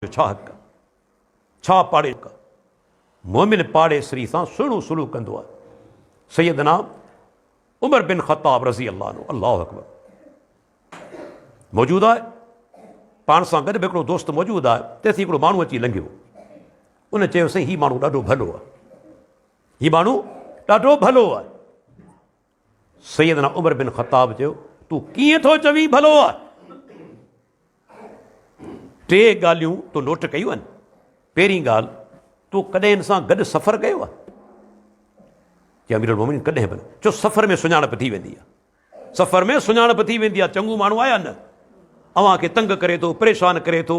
جو ڇا حق؟ ڇا پاڙي حق؟ مومن پاڙيسري سان سهڻو سلوڪ ڪندو آهي. سيدنا عمر بن خطاب رضي الله عنه الله اڪبر موجود آهي پاڻ سان گڏ به هڪڙو دوست موجود آهي تيسي هڪڙو ماڻهو اچي لنگهيو ان چيو سائين هي ماڻهو ڏاڍو ڀلو آهي هي ماڻهو ڏاڍو ڀلو آهي سيدنا عمر بن خطاب چيو، تون ڪيئن ٿو چوين ڀلو آ؟ ٽي ڳالهيون تو نوٽ ڪيون آهن. پهرين ڳالهه تو ڪڏهن ان سان گڏ سفر ڪيو آ؟ چي امير المومنين ڪڏهن به نه. چو سفر ۾ سڃاڻپ ٿي ويندي آ. سفر ۾ سڃاڻپ ٿي ويندي آ، چڱو ماڻهو آهي يا نه؟ اوهان کي تنگ ڪري ٿو، پريشان ڪري ٿو.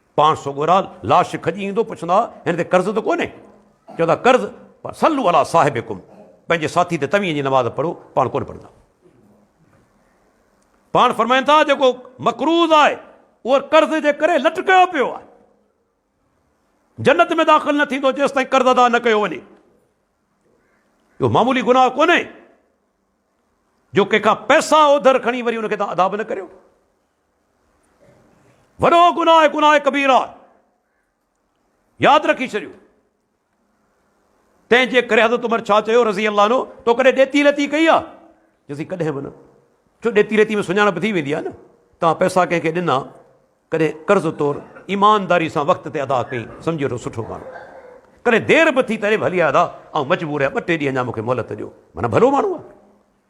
پاڻ سوڳورا لاش کڄي ايندو پڇندا هن تي قرض ته ڪونهي؟ چوندا قرض پر صلوا علي صاحبڪم پنهنجي ساٿي تي توهين جي نماز پڙهو پاڻ ڪونه پڙهندا. پاڻ فرمائن ٿا جيڪو مقروض آهي اهو قرض جي ڪري لٽڪيو پيو آهي جنت ۾ داخل نه ٿيندو جيستائين قرض ادا نه ڪيو وڃي اهو معمولي گناهه ڪونهي جو ڪنهن کان پئسا اوڌر کڻي وري ان کي تان ادا به نه ڪريو وڏو گناهه آهي گناهه ڪبيره آهي ياد رکي ڇڏيو تنهن جي ڪري حضرت عمر ڇا چيو رضي الله عنه تو ڪڏهن ڏيتي لتي ڪئي آ جسي ڪڏهن به نه جو ڏيتي لتي ۾ سڃاڻپ ٿي ويندي آ نه تان پئسا ڪنهن کي ڏنا ڪڏهن قرض طور ايمانداري سان وقت تي ادا ڪئي سمجھي وٺو سٺو ماڻهو ڪڏهن دير به ٿي تڏهن به هلي آيا ۽ مجبور آهي ٻه ٽي ڏينهن اڃا مونکي مهلت ڏيو مانا ڀلو ماڻهو آ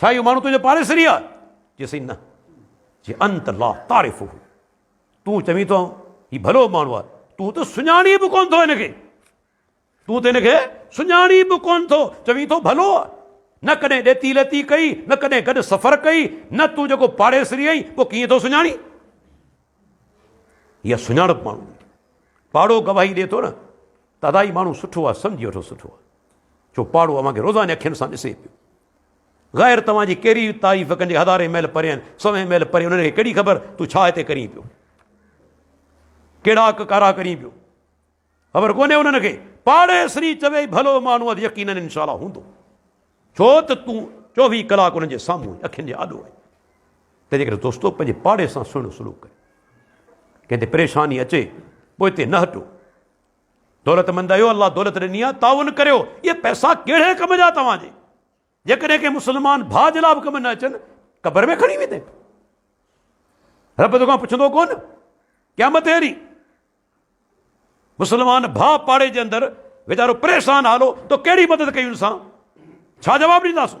ڇا اهو ماڻهو تنهنجو پاڙيسري آهي؟ چي سائين نه. چي انت لا تعرفه تون چوين ٿو هي ڀلو ماڻهو آهي تون ته سڃاڻي به ڪون ٿو هن کي تون ته هن کي سڃاڻي به ڪون ٿو چوين ٿو ڀلو آهي نه ڪڏهن ڏيتي ليتي ڪئي نه ڪڏهن گڏ سفر ڪئي نه تون جيڪو پاڙيسري آهي پوء ڪيئن ٿو سڃاڻي اها سڃاڻپ ماڻهو پاڙو گواهي ڏي ٿو نه ته ادا هي ماڻهو سٺو آهي سمجهي وٺو سٺو آهي جو پاڙو اوهان کي روزاني اکين سان ڏسي پيو. غير توهان جي ڪهڙي تعريف ڪن جيڪي هزارين ميل پري آهن، سوين ميل پري، انهن کي ڪهڙي خبر تون ڇا هتي ڪرين پيو. ڪهڙا ڪارا ڪرين پيو. خبر ڪونهي انهن کي. پاڙيسري چوي ڀلو مانهو اٿ يقينن انشاء الله هوندو. ڇو ته تون چوويهه ڪلاڪ انهن جي سامهون آهين، اکين جي آڏو آهين. تنهنجي ڪري دوستو پنهنجي پاڙي سان سهڻو سلوڪ ڪريو. ڪنهن تي پريشاني اچي پوئتي نه هٽو. دولتمند آهيو الله دولت ڏني آهي تعاون ڪريو اهي پئسا ڪهڙي ڪم جا توهان جي جيڪڏهن ڪنهن مسلمان ڀاء جي لا به ڪم نه اچن قبر ۾ کڻي ويندين رب تو کان پڇندو ڪون قيامت اهڙي مسلمان ڀاء پاڙي جي اندر ويچارو پريشان حالو تو ڪهڙي مدد ڪئي ان سان ڇا جواب ڏينداسون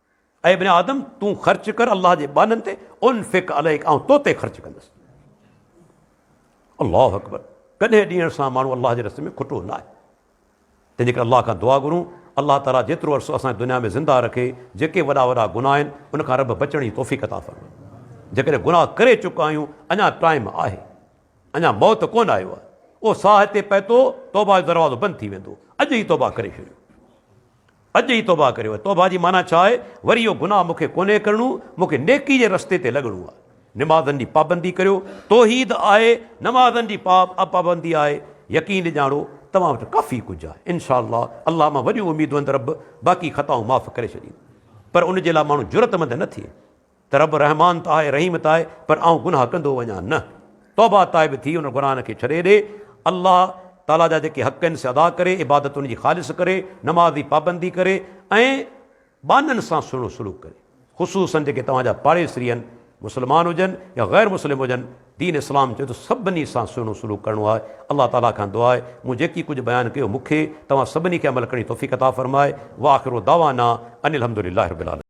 اي ابن آدم! تون خرچ ڪر الله جي ٻانهن تي، انفق عليك آئون تو تي خرچ ڪندس. الله اڪبر! ڪڏهن ڏيڻ سان ماڻهو الله جي رستي ۾ کٽو نه آهي. تنهنجي ڪري الله کان دعا گهرون، الله تعاليٰ جيترو عرصو اسان کي دنيا ۾ زنده رکي، جيڪي وڏا وڏا گناهه آهن، ان کان رب بچڻ جي توفيق عطا فرمائي. جيڪڏهن گناهه ڪري چڪا آهيون، اڃا ٽائيم آهي. اڃا موت ڪونه آيو آهي. اهو ساهه هتي پهتو، توبه جو دروازو بند ٿي ويندو. اڄ ئي توبه ڪري ڇڏيو. اڄ ئي توبهه ڪريو. توبهه جي معنيٰ ڇا آهي؟ وري اهو گناهه مون کي ڪونهي ڪرڻو، مون کي نيڪي جي رستي تي لڳڻو آهي. نمازن جي پابندي ڪريو. توحيد آهي، نمازن جي پابندي آهي. يقين ڄاڻو، توهان وٽ ڪافي ڪجهه آهي. انشاء الله، الله مان وڏيون اميدون هندي رب باقي خطائون معاف ڪري ڇڏيندو. پر ان جي لاء ماڻهو جرئتمند نه ٿئي. ته رب رحمان ته آهي رحيم ته آهي پر آئون گناهه ڪندو وڃان نه توبه تائب ٿي ان گناهن کي ڇڏي ڏي الله تعالي جا جيڪي حق آهن سي ادا ڪري عبادت ان جي خالص ڪري نماز جي پابندي ڪري ۽ ٻانهن سان سهڻو سلوڪ ڪري خصوصن جيڪي توهان جا پاڙيسري آهن مسلمان هجن يا غير مسلم هجن دين اسلام چوي ٿو سڀني سان سهڻو سلوڪ ڪرڻو آهي الله تعالي کان دعا آهي مون جيڪي ڪجهه بيان ڪيو مون کي توهان سڀني کي عمل ڪرڻ جي توفيق عطا فرمائي واخر دعوانا ان الحمد لله رب العالمين